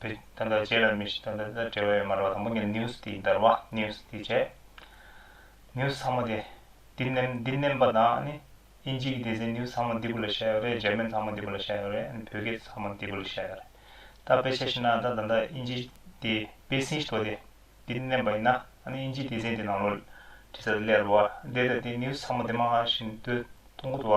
བུ་ད་ལྟ་རྗེས་ལ་མི་ཞིག་དང་ད་ལྟ་འབྲེལ་བ་ཡོད་མ་རེད་བ་དང་པོ་ངས news དེའི་འདར་བ news དེ་བྱས། news ཚང་མ་དེ་འདི་ནེམ་འདི་ནེམ་པ་དང་ཨ་ནི་ཨིན་ཇིའི་སྡེ་ཚན news ཚང་མ་འདི་པོ་ལ་བཤད་ཡོད་རེད་འཇར་མན་ཚང་མ་འདི་པོ་ལ་བཤད་ཡོད་རེད་ཨ་ནི་བོད་སྐད་ཚང་མ་འདི་པོ་ལ་བཤད་ཡོད་རེད་ད་དཔེ་ཆ་ཞིག་ན་ད་ད་ལྟ་ཨིན་ཇི་དེ་པེ་སིན་ཞི་ཐོ་དེ་འདི་ནེམ་པ་ཡིན་ན་ཨ་ནི་ཨིན་ཇིའི་སྡེ་ཚན་དེ་ནང་ལོ་དྲི་ས་དེ་ལས་རོ་བ་དེ་ད་དེ news ཚང་མ་དེ་མང་བ་ཞིག་འདུག་ཐུང་གུ་དུ་བ་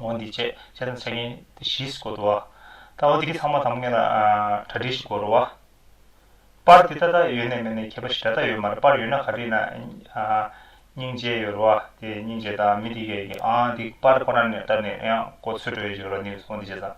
འོན་ཏེ་ཅེས་བྱ་དང་བྱ་ངན་དེ་བཞིས་བསྐོར་དུ་བ། ལྟ་བ་དེ་གི་ཚང་མ་དང་མོ་ངན་ལ་གྲ་སྒྲིག་བཞིན་བསྐོར་བ། པར་དེ་ལྟ་དག་ཡོད་ནས་མེད་ནས་ཁྱད་པ་ཞི་དྲག་དག་ཡོད་མར་པར་ཡོད་ན་ག་དེ་ན་སྙིང་རྗེ་ཡོད་རུ་བ་དེ་སྙིང་རྗེ་དང་མི་དེ་གའི་ཡིན་གྱི་ཨང་དེ་པར་ཁོ་ན་ནས་བཏབ་ནས་ཡང་གོ་ཚོད་དྲོ་བའི་བཞུགས་ར་ནིའུ་འོན་ཏེ་ཅེས་དང།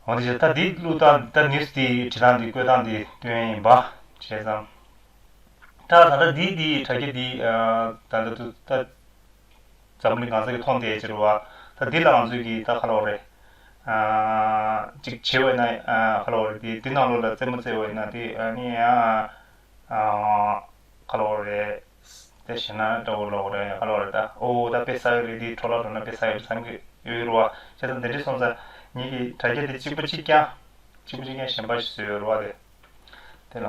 འོན་ཏེ་ཅེས་ད་དེ་བླུགས་སྟངས་ད་ནིའུ་དེ་བྲི་སྟངས་དེ་བཀོད་སྟངས་དེ་སྟོན་ཡིན་པ་བྱས་ཙང། ད་ད་ལྟ་དེ་དེའི་དྲ་རྒྱ་དེའི་ད་ལྟ་དུ་ད། འཛམ་གླིང་གང་ས་གི་མཐོང་བལྟས་བྱེད་རུ་བ། ད་འདི་ལའང་ཚུལ་གྱིས་ད་ཁ་ལོ་རེ། ཅིག་བྱེད་འོས་ན་ཁ་ལོ་རེ། འདི་ནང་ལོགས་ལ་རྩེད་མོ་རྩེད་འོས་ན་དེ་ནི། ཁ་ལོ་རེ། དེ་བྱས་ན་དགྲ་བོ་ལོག་རེ་ཁ་ལོ་རེ་ད། ཨོ་ད་དཔེ་ཟ་གི་རེད་འདི་གྲོ་ལ་འགྲོ་ན་དཔེ་ཟ་གི་རེད་བསམ་གྱི་ཡོད་རུ་བ། བྱས་ཙང་འདི་འདྲའི་སོང་ཙང་ཉིད་ཀྱི་དྲ་རྒྱ་འདི་གཅིག་པུ་གཅིག་རྐྱང། གཅིག་པུ་གཅིག་རྐྱང་གཞན་པ་ཞིག་བཟོས་ཡོད་རུ་བ་དེ། དེ་ལ།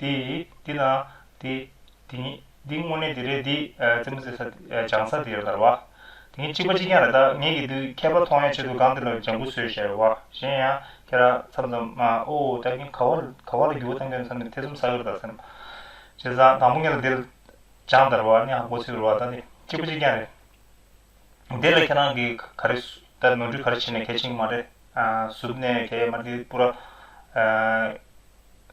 དེ། དེ་ན། དེ། དེ་ཉིད། འདི་དངོས་གནས་དེ་རེད་འདི། རྩེད་མོ་རྩེ་ས། སྦྱང་ས་དེ་རེད་ད་རེད་བ། དེ་ཉིད་གཅིག་པ་གཅིག་རྐྱང་རེད་ད། ངེད་ཀྱིས་དུས་ཁྱད་པར་མཐོང་ཡང་ཆེད་དུ་སྒང་དེ་ལ་ལྗང་ཁུ་ཟོས་ཞེས་རེད་བ། གཞན་ཡང། ཁྱེད་རང། མཚམས་མཚམས། ཨོ། ད་གིན་ག་བ་ལ། ག་བ་ལ་རྒྱུ་བ་བཏང་དོན་མཚམས་ནས་ཐེ་ཚོམ་ཟ་གི་རེད་ད་སེམས། བྱས་ཙང་དང་པོ་ངེད་ལ་དེ། སྦྱངས་ད་རེད་བ། གནས་ཧ་གོ་ཚོད་རེད་བ་ད་ནི། གཅིག་པ་གཅིག་རྐྱང་རེད། དེ་ལ་ཁྱེད་རང་གིས་ག་རེ། ད་ནོར་འཁྲུལ་ག་རེ་བྱས་ནས་གལ་ཆེན་གྱི་མ་རེད། གཟུབ་ནས་གལ་ཡོད་མ་རེད་འདི་སྤུ་ར།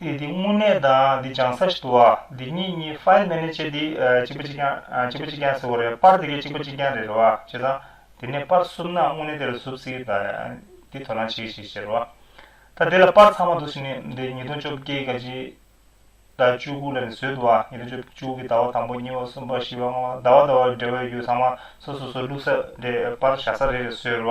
དེ་དེ་དངོས་གནས་དང་དེ་བྱང་ས་ཞིག་ཏུ་བ་དེ་གཉིས་གཉིས File Manager དེ་གཅིག་པ་གཅིག་རྐྱང་གཅིག་པ་གཅིག་རྐྱང་ཟེར་བ་རེད་པར་དེ་གས་གཅིག་པ་གཅིག་རྐྱང་རེད་རེད་བ་བྱས་ཙང་དེ་ནས་པར་བསུབ་ན་དངོས་གནས་དེ་ལ་བསུབ་སྲིད་ད་དེ་དོ་སྣང་བྱེད་གི་ཞིག་ཟེར་བ་ད་དེ་ལ་པར་ཚང་མ་འདུག་ཟེར་ནས་དེ་ཉིས་སྟོང་བཅོ་བརྒྱད་ག་གཅིག་ཟླ་བཅུ་དགུ་ལ་ནས་བཟོས་འདུག་བ་ཉིས་སྟོང་བཅོ་བཅུ་དགུ་གི་ཟླ་བ་དང་པོ་གཉིས་པ་གསུམ་པ་བཞི་པ་ལྔ་པ་ཟླ་བ་ཟླ་བ་འབྲེལ་བ་ཡོད་རྒྱུ་ཚང་མ་སོ་སོ་སོ་བླུག་ས་རེད་པར་བཞག་ས་རེད་རེད་ཟེར་བ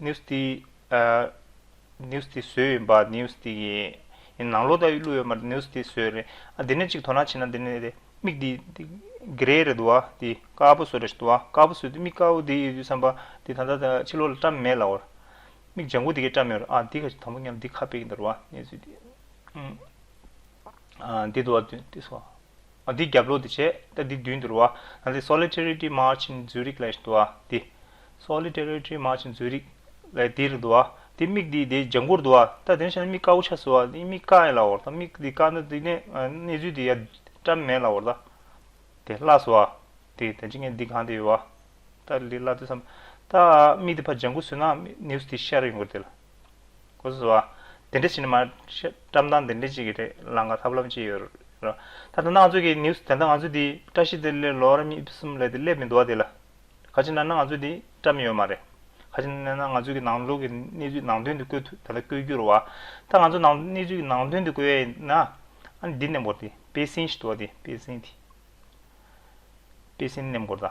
news ཏི news ཏི་བཟོས་ཡིན་པ news ཏི་ཡིན། ཡིན་ནང་ལོག་ལྟ་བུའི་གླུ་ཡོད་མ་རེད news ཏི་བཟོས་རེད། ཨ་དེ་ནས་གཅིག་དོ་སྣང་བྱས་ན་དེ་ནས་དེ་མིག་དེ Grey རེད་འདུག་བ་དེ་དཀར་པོ་བཟོ་རེད་འདུག་བ་དཀར་པོ་བཟོས་དེ་མིག་དཀར་པོ་དེ་ཡོད་དུས་བསམ་པ་དེ་ད་ལྟ་ད་ཕྱི་ལོག་ལ་བཀྲ་མེད་ལ་བར། མིག་ལྗང་གུ་དེ་གས་བཀྲ་མེད་རེད་ཨ་དེ་ག་དང་པོ་སྙམ་དེ་ཁ་དཔེ་གི་འདུག་བ་གནས་ཚུལ་དེ། ཨ་དེ་འདུག་བ་དེ་སོ། འདི་རྒྱབ་ལོག་ཏུ་བྱེད་ད་འདི་མདུན་དུ་རུ་བ་ད་འདི Solidarity March ཨིན་འཛུལ་རིག་ལས་དུ་བ་འདི། Solidarity March འཛུལ་རིག་ལས་འདི་རུ་དུ་བ་འདི་མིག་འདི་དེ་ལྗང་གུར་དུ་བ་ད་དེ་འདྲ་བྱས་ན་མིག་དཀར་བོ་ཆགས་སོ་འདི་མིག་དཀར་ཡིན་ལ་འོ་ད་མིག་འདི་དཀར་ན་འདི་ནས་གནས་ཚུལ་འདི་ཡ་བཀྲ་མེད་ལ་འོ་ད་དེ་བརླ་སོ་བ་དེ་ད་ཅི་ངས་འདི་གང་དེ་ཡོད་བ་ད་འདི་བརླ་དུས་སམ་ད་མིག་འདི་ཕ་ལྗང་གུ་བཟོས་ན news འདི་ཤར་ཡོང་གི་རེད་དེ་ལ། ཁོ་ཚོས་བ། དེ་འདྲ་བྱས་ནས་མ། བཀྲ་མདངས་དེ་འདྲ་ཅིག་གི་རེད་ལང་ཀ་ཐབས་ལམ་ཅིག་ཡོད་རེད། ད་ལྟ་ནང་ཆོས་ཀྱི news དེ་འདྲ་ང་ཚོས་དེ་བཀྲ་ཤིས་དེ་ལས་ལོ་རབས་གཉིས་གསུམ་ལས་དེ་སླེབས་མི་འདུག་བ་དེ་ལ། ག་ཅིག་ན་ན་ང་ཚོས་དེ་བཀྲ་མི་ཡོད་མ་རེད། ག་ཅིག་ན་ན་ང་ཚོས་ཀྱི་ནང་ལོག་གི་གནས་ཚུལ་ནང་དོན་དེ་བཀོད་ཐུབ་ད་ལྟ་བཀོད་རྒྱུར་བ། ད་ང་ཚོས་ནང་གནས་ཚུལ་གྱི་ནང་དོན་དེ་བཀོད་ཡས་ན། ཨ་ནི་འདི་གནས་འབོར་དེ་པེ་སིན་ཞིག་འདུག་བ་དེ་པེ་སིན་དེ། པེ་སིན་གནས་འབོར་ད།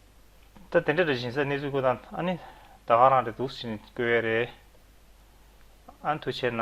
ད་དེ་འདྲ་རེད་བཞིན་ས་གནས་ཚུལ་ཁུ་དང་ཨ་ནི་ད་ག་རང་རེད་འདུག་བཞིན་བཀོད་ཡས་རེད་ཨ་ནི་ཐུགས་ཆེ་ན།